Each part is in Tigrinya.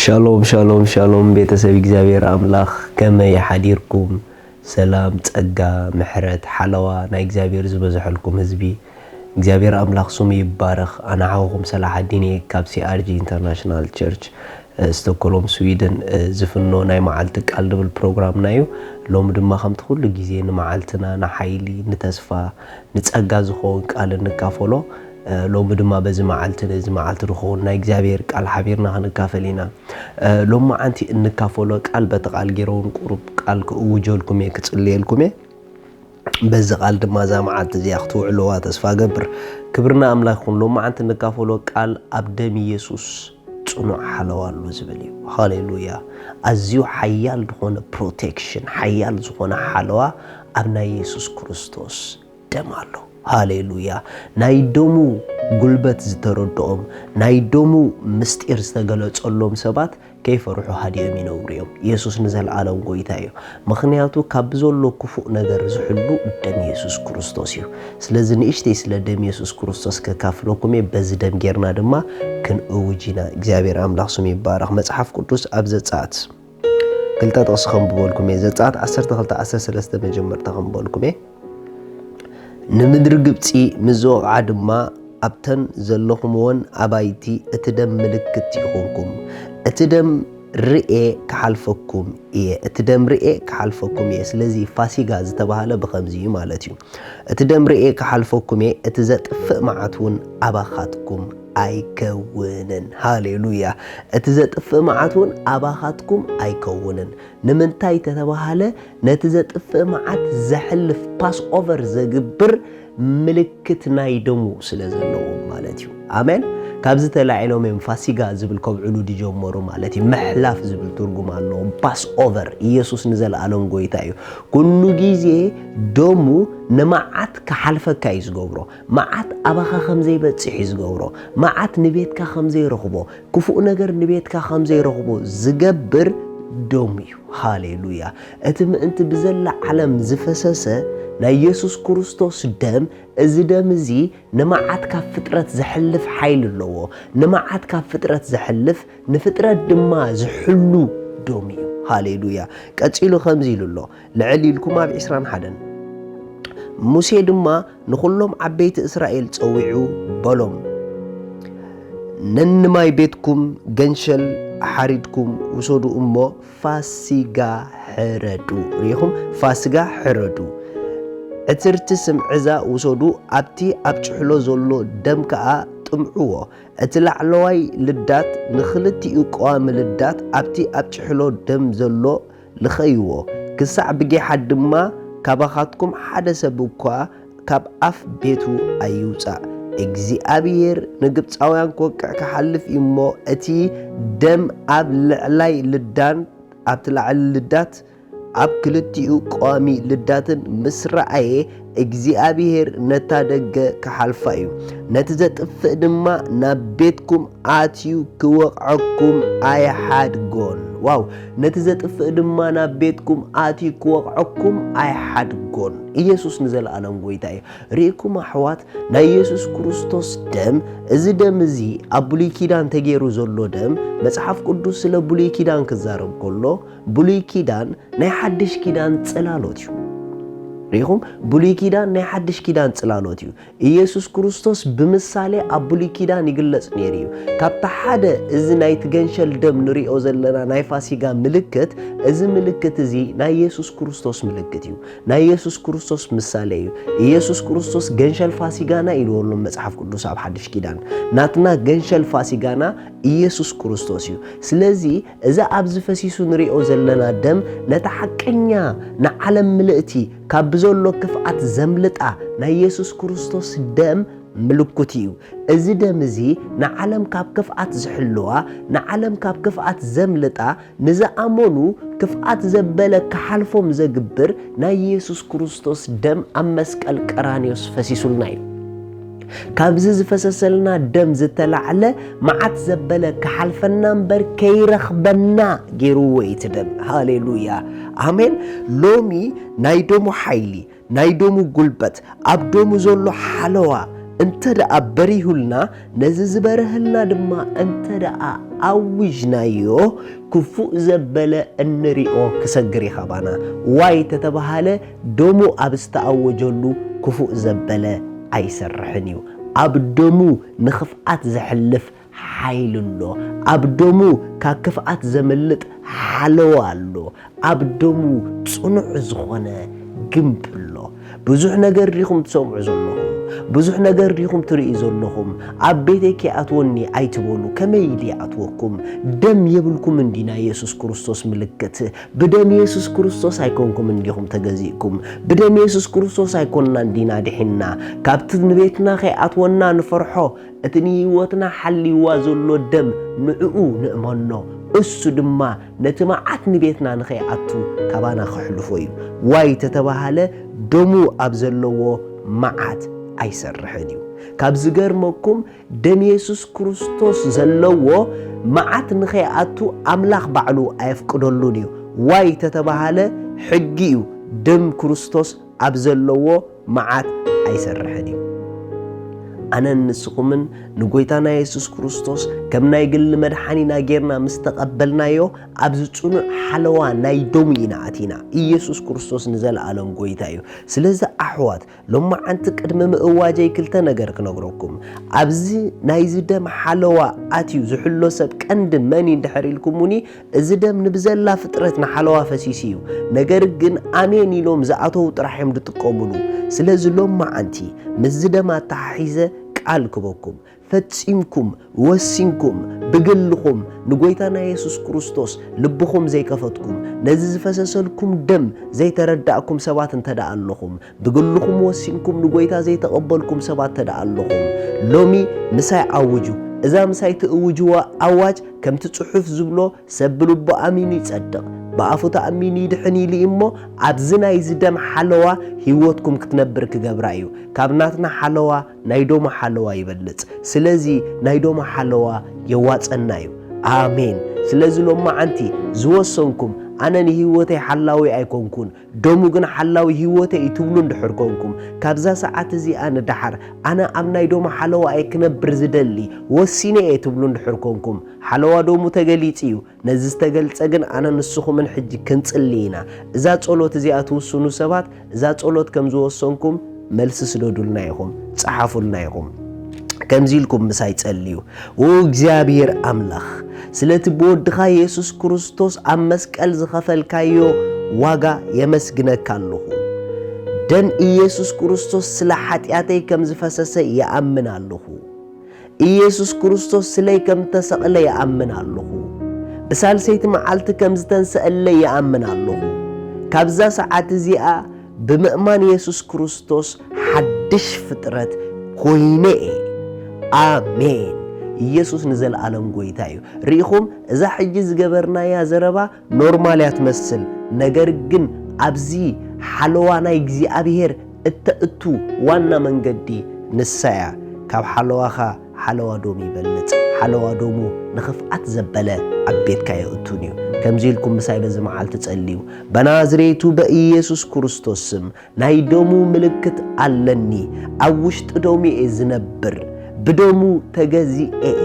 ሻሎም ሻሎም ሻሎም ቤተሰብ እግዚኣብሔር ኣምላኽ ከመይ ሓዲርኩም ሰላም ጸጋ ምሕረት ሓለዋ ናይ እግዚኣብሔር ዝበዝሐልኩም ህዝቢ እግዚኣብሔር ኣምላኽ ስሙ ይባረኽ ኣነ ሓውኹም ሰላሕ ኣዲን እየ ካብ ሲኣርጂ ኢንተርናሽናል ቸርች ስቶኮሎም ስዊድን ዝፍኖ ናይ መዓልቲ ቃል ድብል ፕሮግራምና እዩ ሎሚ ድማ ከምቲ ኩሉ ግዜ ንመዓልትና ንሓይሊ ንተስፋ ንጸጋ ዝኸውን ቃል እንካፈሎ ሎሚ ድማ በዚ መዓልቲ ነዚ መዓልቲ ንክውን ናይ እግዚኣብሔር ቃል ሓቢርና ክንካፈል ኢና ሎሚ መዓንቲ እንካፈሎ ቃል በቲ ቃል ጌረውን ቁሩብ ቃል ክእውጀልኩም እየ ክጽልየልኩም እየ በዚ ቃል ድማ እዛ መዓልቲ እዚኣ ክትውዕልዋ ተስፋ ገብር ክብርና ኣምላክ ይኹን ሎሚ መዓንቲ እንካፈሎ ቃል ኣብ ደም ኢየሱስ ጽኑዕ ሓለዋ ኣሎ ዝብል እዩ ሃሌሉያ ኣዝዩ ሓያል ዝኾነ ፕሮቴክሽን ሓያል ዝኾነ ሓለዋ ኣብ ናይ ኢየሱስ ክርስቶስ ደም ኣሎ። ሃሌሉያ! ናይ ደሙ ጉልበት ዝተረድኦም፣ ናይ ደሙ ምስጢር ዝተገለጸሎም ሰባት ከይፈርሑ ሃዲኦም ይነብሩ እዮም። የሱስ ንዘልኣለም ጎይታ እዩ። ምኽንያቱ ካብ ብዘሎ ክፉእ ነገር ዝሕሉ ደም የሱስ ክርስቶስ እዩ። ስለዚ ንእሽተይ ስለ ደም የሱስ ክርስቶስ ከካፍለኩም እየ፣ በዚ ደም ጌርና ድማ ክንእውጅ ኢና። እግዚኣብሔር ኣምላኽ ስሙ ይባረኽ። መጽሓፍ ቅዱስ ኣብ ዘጸኣት። ክልተ ጥቕሲ ከንብበልኩም እየ። ዘጸኣት ዓሰርተ ክልተ ዓሰርተ ሰለስተ መጀመርታ ከንብበልኩም እየ። ንምድሪ ግብጺ ምስ ዝወቕዓ ድማ ኣብተን ዘለኹምወን ኣባይቲ እቲ ደም ምልክት ይኹንኩም፣ እቲ ደም ርኤ ክሓልፈኩም እየ እቲ ደም ርኤ ክሓልፈኩም እየ። ስለዚ ፋሲጋ ዝተባህለ ብኸምዚ እዩ ማለት እዩ። እቲ ደም ርኤ ክሓልፈኩም እየ፣ እቲ ዘጥፍእ መዓት እውን ኣባኻትኩም ኣይከውንን። ሃሌሉያ! እቲ ዘጥፍእ መዓት እውን ኣባኻትኩም ኣይከውንን። ንምንታይ ተተባህለ ነቲ ዘጥፍእ መዓት ዘሕልፍ፣ ፓስኦቨር ዘግብር፣ ምልክት ናይ ደሙ ስለ ዘለዎም ማለት እዩ። ኣሜን! ካብዚ ተላዒሎም እዮም ፋሲጋ ዝብል ከብዕሉ ዝጀመሩ ማለት እዩ። ምሕላፍ ዝብል ትርጉም ኣለዎ። ፓስኦቨር፣ ኢየሱስ ንዘለኣለም ጎይታ እዩ። ኩሉ ግዜ ደሙ ንመዓት ክሓልፈካ እዩ ዝገብሮ። መዓት ኣባኻ ኸም ዘይበጽሕ እዩ ዚገብሮ፣ መዓት ንቤትካ ኸም ዘይረኽቦ፣ ክፉእ ነገር ንቤትካ ኸም ዘይረኽቦ ዚገብር ደሙ እዩ። ሃሌ ሉያ! እቲ ምእንቲ ብዘላ ዓለም ዝፈሰሰ ናይ የሱስ ክርስቶስ ደም፣ እዚ ደም እዚ ንመዓት ካብ ፍጥረት ዘሕልፍ ሓይሊ ኣለዎ። ንመዓት ካብ ፍጥረት ዘሕልፍ፣ ንፍጥረት ድማ ዝሕሉ ደሙ እዩ። ሃሌ ሉያ! ቀጺሉ ከምዚ ኢሉ ኣሎ፣ ልዕል ኢልኩም ኣብ ዕስራን ሓደን። ሙሴ ድማ ንዅሎም ዓበይቲ እስራኤል ጸዊዑ በሎም፣ ነንማይ ቤትኩም ገንሸል ሓሪድኩም ውሰዱ እሞ ፋሲጋ ሕረዱ። ርኢኹም፣ ፋስጋ ሕረዱ። ዕትርቲ ስም ዕዛ ውሰዱ፣ ኣብቲ ኣብ ጭሕሎ ዘሎ ደም ከኣ ጥምዕዎ። እቲ ላዕለዋይ ልዳት ንኽልቲኡ ቀዋሚ ልዳት ኣብቲ ኣብ ጭሕሎ ደም ዘሎ ልኸይዎ፣ ክሳዕ ብጊሓት ድማ ካባኻትኩም ሓደ ሰብ እኳ ካብ ኣፍ ቤቱ ኣይውጻእ። እግዚኣብሄር ንግብጻውያን ክወቅዕ ክሓልፍ እዩ እሞ፣ እቲ ደም ኣብ ልዕላይ ልዳን ኣብቲ ላዕሊ ልዳት ኣብ ክልቲኡ ቀዋሚ ልዳትን ምስ ረኣየ፣ እግዚኣብሄር ነታ ደገ ክሓልፋ እዩ፣ ነቲ ዘጥፍእ ድማ ናብ ቤትኩም ኣትዩ ክወቕዐኩም ኣይሓድጎን። ዋው! ነቲ ዘጥፍእ ድማ ናብ ቤትኩም ኣትዩ ክወቕዐኩም ኣይሓድጎን። ኢየሱስ ንዘለኣለም ጎይታ እዩ። ርኢኩም ኣሕዋት፣ ናይ ኢየሱስ ክርስቶስ ደም፣ እዚ ደም እዚ ኣብ ብሉይ ኪዳን ተገይሩ ዘሎ ደም፣ መጽሓፍ ቅዱስ ስለ ብሉይ ኪዳን ክዛረብ ከሎ፣ ብሉይ ኪዳን ናይ ሓድሽ ኪዳን ጽላሎት እዩ። ርኢኹም? ብሉይ ኪዳን ናይ ሓድሽ ኪዳን ጽላሎት እዩ። ኢየሱስ ክርስቶስ ብምሳሌ ኣብ ብሉይ ኪዳን ይግለጽ ነይሩ እዩ። ካብቲ ሓደ እዚ ናይቲ ገንሸል ደም ንሪኦ ዘለና ናይ ፋሲጋ ምልክት፣ እዚ ምልክት እዚ ናይ ኢየሱስ ክርስቶስ ምልክት እዩ። ናይ ኢየሱስ ክርስቶስ ምሳሌ እዩ። ኢየሱስ ክርስቶስ ገንሸል ፋሲጋና ኢልዎ ኣሎ መጽሓፍ ቅዱስ ኣብ ሓድሽ ኪዳን። ናትና ገንሸል ፋሲጋና ኢየሱስ ክርስቶስ እዩ። ስለዚ እዚ ኣብዚ ፈሲሱ ንሪኦ ዘለና ደም ነታ ሓቀኛ ንዓለም ምልእቲ ካብ ብዘሎ ክፍኣት ዘምልጣ ናይ የሱስ ክርስቶስ ደም ምልኩት ኢዩ። እዚ ደም እዚ ንዓለም ካብ ክፍኣት ዝሕልዋ ንዓለም ካብ ክፍኣት ዘምልጣ ንዝኣመኑ ክፍኣት ዘበለ ክሓልፎም ዘግብር ናይ የሱስ ክርስቶስ ደም ኣብ መስቀል ቀራንዮስ ፈሲሱልና ኢዩ። ካብዚ ዝፈሰሰልና ደም ዝተላዕለ መዓት ዘበለ ክሓልፈና እምበር ከይረኽበና ገይርዎ እዩ እቲ ደም። ሃሌሉያ ኣሜን። ሎሚ ናይ ደሙ ሓይሊ፣ ናይ ደሙ ጉልበት፣ ኣብ ደሙ ዘሎ ሓለዋ እንተ ደኣ በሪሁልና፣ ነዚ ዝበርሀልና ድማ እንተ ደኣ ኣዊጅናዮ፣ ክፉእ ዘበለ እንሪኦ ክሰግር እዩ ካባና። ዋይ ተተባህለ ደሙ ኣብ ዝተኣወጀሉ ክፉእ ዘበለ ኣይሰርሕን እዩ። ኣብ ደሙ ንኽፍኣት ዘሕልፍ ሓይሊ ኣሎ። ኣብ ደሙ ካብ ክፍኣት ዘምልጥ ሓለዋ ኣሎ። ኣብ ደሙ ጽኑዕ ዝኾነ ግምቢ ኣሎ። ብዙሕ ነገር ዲኹም ትሰምዑ ዘለኹም? ብዙሕ ነገር ዲኹም ትርእዩ ዘለኹም? ኣብ ቤተይ ከይኣትወኒ ኣይትበሉ፣ ከመይ ኢሊ ይኣትወኩም? ደም የብልኩምን ዲና የሱስ ክርስቶስ ምልክት ብደም የሱስ ክርስቶስ ኣይኮንኩምን ዲኹም ተገዚእኩም? ብደም የሱስ ክርስቶስ ኣይኮንናን ዲና ድሒንና? ካብቲ ንቤትና ከይኣትወና ንፈርሖ፣ እቲ ንህይወትና ሓልይዋ ዘሎ ደም ንዕኡ ንእመኖ። እሱ ድማ ነቲ መዓት ንቤትና ንኸይኣቱ ካባና ከሕልፎ እዩ። ዋይ ተተባህለ ደሙ ኣብ ዘለዎ መዓት ኣይሰርሕን እዩ። ካብ ዝገርመኩም ደም የሱስ ክርስቶስ ዘለዎ መዓት ንኸይኣቱ ኣምላኽ ባዕሉ ኣየፍቅደሉን እዩ። ዋይ ተተባሃለ ሕጊ እዩ ደም ክርስቶስ ኣብ ዘለዎ መዓት ኣይሰርሕን እዩ። ኣነን ንስኹምን ንጎይታና የሱስ ክርስቶስ ከም ናይ ግሊ መድሓኒና ጌርና ምስ ተቐበልናዮ ኣብዚ ጽኑዕ ሓለዋ ናይ ደሙ ኢና ኣቲና። ኢየሱስ ክርስቶስ ንዘለኣለም ጎይታ እዩ። ስለዚ ኣሕዋት ሎማዓንቲ ቅድሚ ምእዋጀይ ክልተ ነገር ክነግረኩም ኣብዚ ናይዚ ደም ሓለዋ ኣትዩ ዝሕሎ ሰብ ቀንዲ መን እዩ ድሕር ኢልኩሙኒ እዚ ደም ንብዘላ ፍጥረት ንሓለዋ ፈሲሱ እዩ ነገር ግን ኣሜን ኢሎም ዝኣተዉ ጥራሕ እዮም ዝጥቀሙሉ ስለዚ ሎማዓንቲ ምስዚ ደም ኣተሓሒዘ ቃል ክበኩም ፈጺምኩም ወሲንኩም ብግልኹም ንጎይታና የሱስ ክርስቶስ ልብኹም ዘይከፈትኩም ነዚ ዝፈሰሰልኩም ደም ዘይተረዳእኩም ሰባት እንተደኣ ኣለኹም ብግልኹም ወሲንኩም ንጎይታ ዘይተቐበልኩም ሰባት እንተደኣ ኣለኹም ሎሚ ምሳይ ኣውጁ እዛ ምሳይ ትእውጅዋ ኣዋጅ ከምቲ ጽሑፍ ዝብሎ ሰብ ብልቡ ኣሚኑ ይጸድቕ ብኣፉ ተኣሚኑ ይድሕን ኢሉ እዩ እሞ ኣብዚ ናይዚ ደም ሓለዋ ህይወትኩም ክትነብር ክገብራ እዩ ካብ ናትና ሓለዋ ናይ ዶማ ሓለዋ ይበልጽ ስለዚ ናይ ዶማ ሓለዋ የዋጸና እዩ ኣሜን ስለዚ ሎማዓንቲ ዝወሰንኩም ኣነ ንሂወተይ ሓላዊ ኣይኮንኩን ዶሙ ግን ሓላዊ ሂወተይ እዩ ትብሉ እንድሕር ኮንኩም ካብዛ ሰዓት እዚኣ ንደሓር ኣነ ኣብ ናይ ዶማ ሓለዋ እየ ክነብር ዝደሊ ወሲነ እየ ትብሉ እንድሕር ኮንኩም ሓለዋ ዶሙ ተገሊጹ እዩ ነዚ ዝተገልጸ ግን ኣነ ንስኹምን ሕጂ ክንጽሊ ኢና እዛ ጸሎት እዚኣ ትውስኑ ሰባት እዛ ጸሎት ከም ዝወሰንኩም መልሲ ስደዱልና ኢኹም ጸሓፉልና ኢኹም ከምዚ ኢልኩም ምሳይ ጸልዩ ው እግዚኣብሔር ኣምላኽ ስለቲ ብወድኻ የሱስ ክርስቶስ ኣብ መስቀል ዝኸፈልካዮ ዋጋ የመስግነካ ኣለኹ ደም ኢየሱስ ክርስቶስ ስለ ሓጢኣተይ ከም ዝፈሰሰ ይኣምን ኣለኹ ኢየሱስ ክርስቶስ ስለይ ከም እተሰቕለ ይኣምን ኣሎኹ። ብሳልሰይቲ መዓልቲ ከም ዝተንሰኣለይ ይኣምን ኣሎኹ። ካብዛ ሰዓት እዚኣ ብምእማን ኢየሱስ ክርስቶስ ሓድሽ ፍጥረት ኮይነ እየ። ኣሜን። ኢየሱስ ንዘለኣለም ጎይታ እዩ። ርኢኹም፣ እዛ ሕጂ ዝገበርናያ ዘረባ ኖርማል እያ ትመስል ነገር ግን ኣብዚ ሓለዋ ናይ እግዚኣብሄር እተእቱ ዋና መንገዲ ንሳ እያ ካብ ሓለዋኻ ሓለዋ ዶም ይበልጽ ሓለዋ ዶሙ ንኽፍኣት ዘበለ ኣብ ቤትካ የእቱን እዩ ከምዚ ኢልኩም ምሳይ በዚ መዓልቲ ጸልዩ በናዝሬቱ በኢየሱስ ክርስቶስ ስም ናይ ደሙ ምልክት ኣለኒ ኣብ ውሽጢ ደሙ'የ ዝነብር ብደሙ ተገዚኤ'የ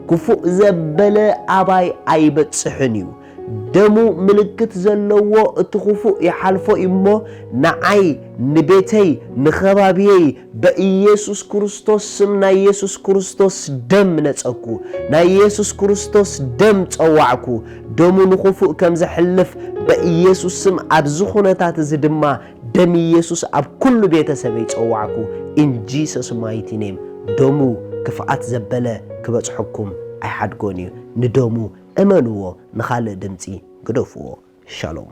ክፉእ ዘበለ ኣባይ ኣይበጽሕን'ዩ ደሙ ምልክት ዘለዎ እቲ ክፉእ ይሓልፎ'ዩ'ሞ ንዓይ ንቤተይ ንከባብየይ በኢየሱስ ክርስቶስ ስም ናይ የሱስ ክርስቶስ ደም ነጸግኩ ናይ የሱስ ክርስቶስ ደም ጸዋዕኩ ደሙ ንኹፉእ ከም ዘሕልፍ በኢየሱስ ስም ኣብዚ ኩነታት እዚ ድማ ደም ኢየሱስ ኣብ ኩሉ ቤተሰበይ ጸዋዕኩ ኢን ጂሰስ ማይቲ ኔም ደሙ ክፍኣት ዘበለ ክበጽሐኩም ኣይሓድጎን እዩ ንደሙ እመንዎ ንኻልእ ድምጺ ግደፍዎ ሻሎም